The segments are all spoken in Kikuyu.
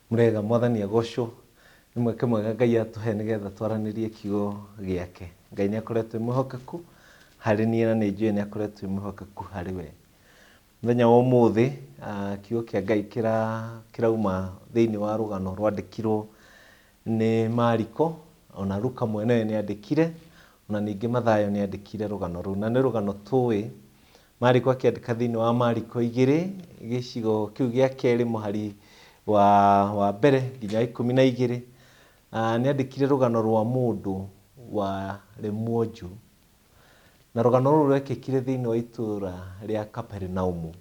Mũrĩega, Mwathani agocwo. Nĩ mweke mwega Ngai atũhe nĩgetha twaranĩrie kiugo gĩake. Ngai nĩ akoretwo e mwĩhokeku harĩ niĩ na nĩ njũĩ nĩ akoretwo e mwĩhokeku harĩ we. Mũthenya wa ũmũthĩ ah, kiugo kĩa Ngai kĩra- kĩrauma thĩinĩ wa rũgano rwandĩkirwo nĩ Mariko, ona Luka mwene nĩ andĩkire, ona ningĩ Mathayo nĩ andĩkire rũgano rũu. Na nĩ rũgano tũĩ Mariko akĩandĩka thĩinĩ wa Mariko igĩrĩ gĩcigo kĩu gĩa kerĩ mũhari wa, wa mbere nginya wa ikũmi na igĩrĩ Ah, nĩ andĩkire rũgano rwa mũndũ warĩ mwonju na rũgano rũu rwekĩkire thĩinĩ wa itũũra rĩa Kaperinaumu.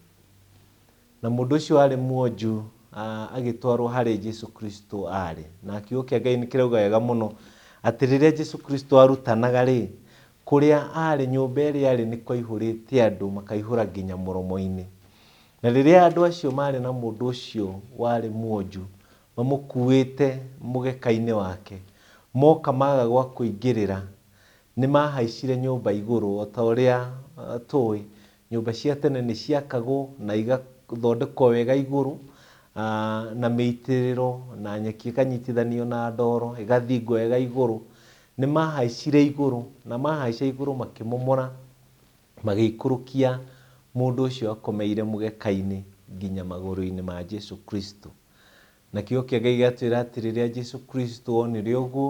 Na mũndũ ũcio warĩ mwonju a, agĩtwarwo harĩ Jesu Kristo aarĩ. Na Kiugo kĩa Ngai nĩ kĩrauga wega mũno atĩ rĩrĩa Jesu Kristo aarutanaga-rĩ, kũrĩa aarĩ, nyũmba ĩrĩa aarĩ nĩ kwaihũrĩte andũ, makaihũra nginya mũromo-inĩ. Na rĩrĩa andũ acio maarĩ na mũndũ ũcio warĩ mwonju, mamũkuĩte mũgeka-inĩ wake, moka maaga gwa kũingĩrĩra, nĩ maahaicire nyũmba igũrũ, o ta ũrĩa tũĩ, Nyũmba cia tene nĩ ciakagwo na igathondekwo wega igũrũ na mĩitĩrĩro na nyeki ĩkanyitithanio na ndoro ĩgathingwo wega igũrũ. Nĩ maahaicire igũrũ na maahaica igũrũ makĩmomora magĩikũrũkia mũndũ ũcio akomeire mũgeka-inĩ nginya magũrũ-inĩ ma Jesu Kristo. Na kiugo kĩa Ngai gĩgatwĩra atĩ rĩrĩa Jesu Kristo onire ũguo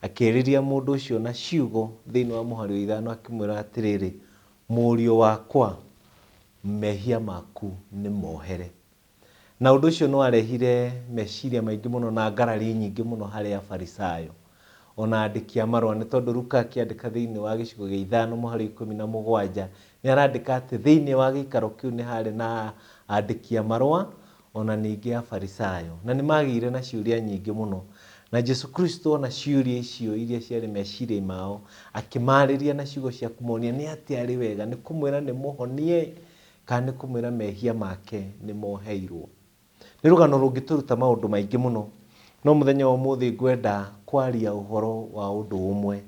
akĩarĩria mũndũ ũcio na ciugo thĩinĩ wa mũhari wa ithano akĩmwĩra atĩrĩrĩ, Mũriũ wakwa, mehia maku nĩmohere. Na ũndũ ũcio nĩwarehire meciria maingĩ mũno na ngarari nyingĩ mũno harĩ Afarisayo, ona andĩki a marũa, nĩ tondũ Luka akĩandĩka thĩinĩ wa gĩcigo gĩa ithano mũhari wa ikũmi na mũgwanja, nĩarandĩka atĩ thĩinĩ wa gĩikaro kĩu nĩharĩ na andĩki a marũa, o na ningĩ Afarisaayo, na nĩ maagĩire na ciũria nyingĩ mũno. Na Jesu Kristo ona ciũria icio iria ciarĩ meciria-inĩ mao, akĩmaarĩria na ciugo cia kũmonia nĩ atĩa arĩ wega, nĩ kũmwĩra nĩ mũhonie, kana nĩ kũmwĩra mehia make nĩ moheirwo. Nĩ rũgano rũngĩtũruta maũndũ maingĩ mũno, no mũthenya wa ũmũthĩ ngwenda kwaria ũhoro wa ũndũ ũmwe,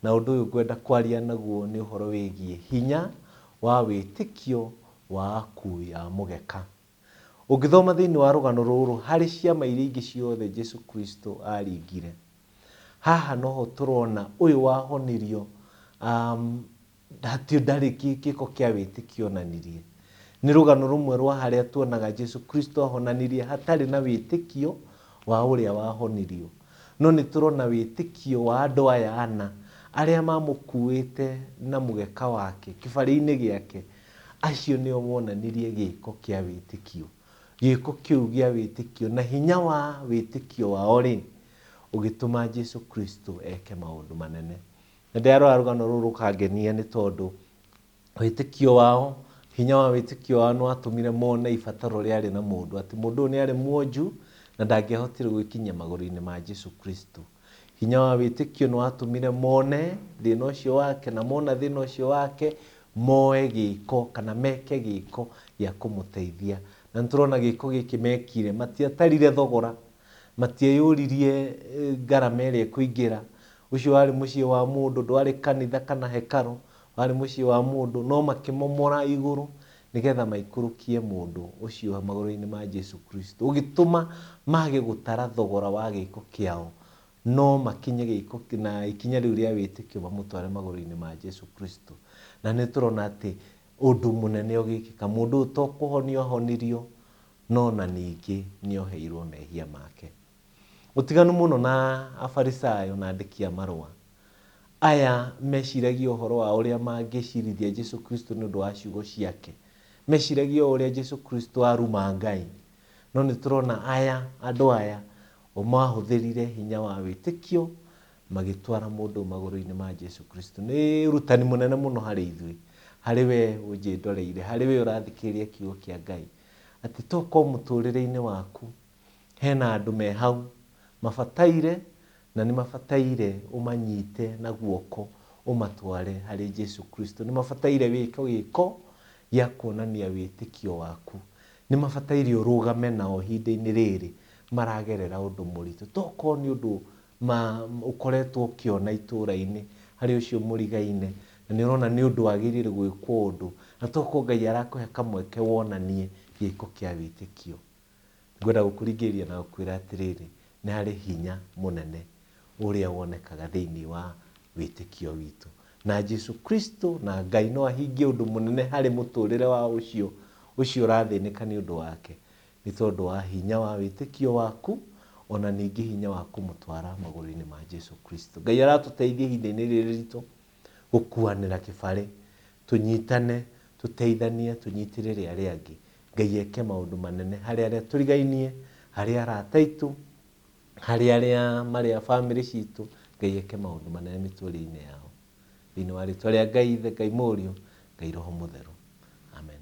na ũndũ ũyũ ngwenda kwaria naguo nĩ ũhoro wĩgiĩ hinya wa wĩtĩkio wa aku ya mũgeka. Ũngĩthoma thĩinĩ wa rũgano rũrũ, harĩ ciama iria ingĩ ciothe Jesu Kristo aaringire, haha noho tũrona ũyũ wahonirio hatirĩ ndarĩ gĩko kĩa wĩtĩkio onanirie. Nĩ rũgano rũmwe rwa harĩa tuonaga Jesu Kristo ahonanirie hatarĩ na wĩtĩkio wa ũrĩa wahonirio. No nĩ tũrona wĩtĩkio wa andũ aya ana arĩa mamũkuĩte na mũgeka wake, kĩbarĩ-inĩ gĩake, Acio nĩo wonanirie gĩĩko kĩa wĩtĩkio. Gĩĩko kĩu gĩa wĩtĩkio na hinya wa wĩtĩkio wao-rĩ, ũgĩtũma Jesu Kristo eke maũndũ manene. Na ndĩrarora rũgano rũrũ rũkangenia nĩ tondũ wĩtĩkio wao, hinya wa wĩtĩkio wao nĩ watũmire mone ibataro rĩarĩ na mũndũ, atĩ mũndũ ũyũ nĩ arĩ mwonju na ndangĩahotire gwĩkinyia magũrũ-inĩ ma Jesu Kristo. Hinya wa wĩtĩkio nĩ watũmire mone thĩna ũcio wake, na mona thĩna ũcio wake, moe gĩĩko kana meke gĩĩko gĩa kũmũteithia. Na nĩ tũrona gĩĩko gĩkĩ mekire, matiatarire thogora, matieyũririe ngarama ĩrĩa ĩkũingĩra. Ũcio warĩ mũciĩ wa mũndũ, ndwarĩ kanitha kana hekarũ, warĩ mũciĩ wa mũndũ, no makĩmomora igũrũ nĩgetha maikũrũkie mũndũ ũcio magũrũ-inĩ ma Jesu Kristo, ũgĩtũma mage gũtara thogora wa gĩĩko kĩao, no makinye gĩĩko na ikinya rĩu rĩa wĩtĩkio mamũtware magũrũ-inĩ ma Jesu Kristo. Na nĩ tũrona atĩ ũndũ mũnene ũgĩkĩka. Mũndũ ũyũ to kũhonio ahonirio, no na ningĩ nĩ oheirwo mehia make. Ũtiganu mũno na Afarisayo na andĩki a marũa, aya meciragia ũhoro wa ũrĩa mangĩcirithia Jesu Kristo nĩ ũndũ wa ciugo ciake. Meciragia o ũrĩa Jesu Kristo aruma Ngai. No nĩ tũrona aya, andũ aya, o mahũthĩrire hinya wa wĩtĩkio magĩtwara mũndũ magũrũ-inĩ ma Jesu Kristo. Nĩ ũrutani mũnene mũno harĩ ithuĩ, harĩ we ũnjĩndoreire, harĩ we ũrathikĩrĩria kiugo kĩa Ngai, atĩ to korwo mũtũrĩre-inĩ waku Hena andũ me hau mabataire na nĩ mabataire ũmanyite na guoko ũmatware harĩ Jesu Kristo. Nĩ mabataire wĩke gĩko gĩa kuonania wĩtĩkio waku. Nĩ mabataire ũrũgame nao ihinda-inĩ rĩrĩ maragerera ũndũ mũritũ. Tokorwo nĩ ũndũ ũkoretwo ũkĩona itũra-inĩ harĩ ũcio mũrigaine na nĩ ũrona nĩ ũndũ wagĩrĩire gwĩkwo ũndũ, na tokorwo Ngai arakũhe kamweke wonanie gĩko kĩa wĩtĩkio. Ngwenda gũkũringĩrĩria na gũkwĩra atĩrĩrĩ, nĩ harĩ hinya mũnene ũrĩa wonekaga thĩinĩ wa wĩtĩkio witũ. Na Jesu Kristo na Ngai no ahingie ũndũ mũnene harĩ mũtũrĩre wa ũcio ũcio ũrathĩnĩka nĩ ũndũ wake, nĩ tondũ wa hinya wa wĩtĩkio waku, ona ningĩ hinya wa kũmũtwara magũrũ-inĩ ma Jesu Kristo. Ngai aratũteithia ihinda-inĩ rĩrĩ ritũ. gũkuanĩra kĩbarĩ, tũnyitane, tũteithanie, tũnyitĩrĩre arĩa angĩ. Ngai eke maũndũ manene harĩ arĩa tũrigainie, harĩ arata aitũ, harĩ arĩa marĩ a bamĩrĩ citũ, Ngai eke maũndũ manene mĩtũrĩre-inĩ yao. Thĩinĩ wa rĩtwa rĩa Ngai Ithe, Ngai Mũriũ, Ngai Roho Mũtheru. Amen.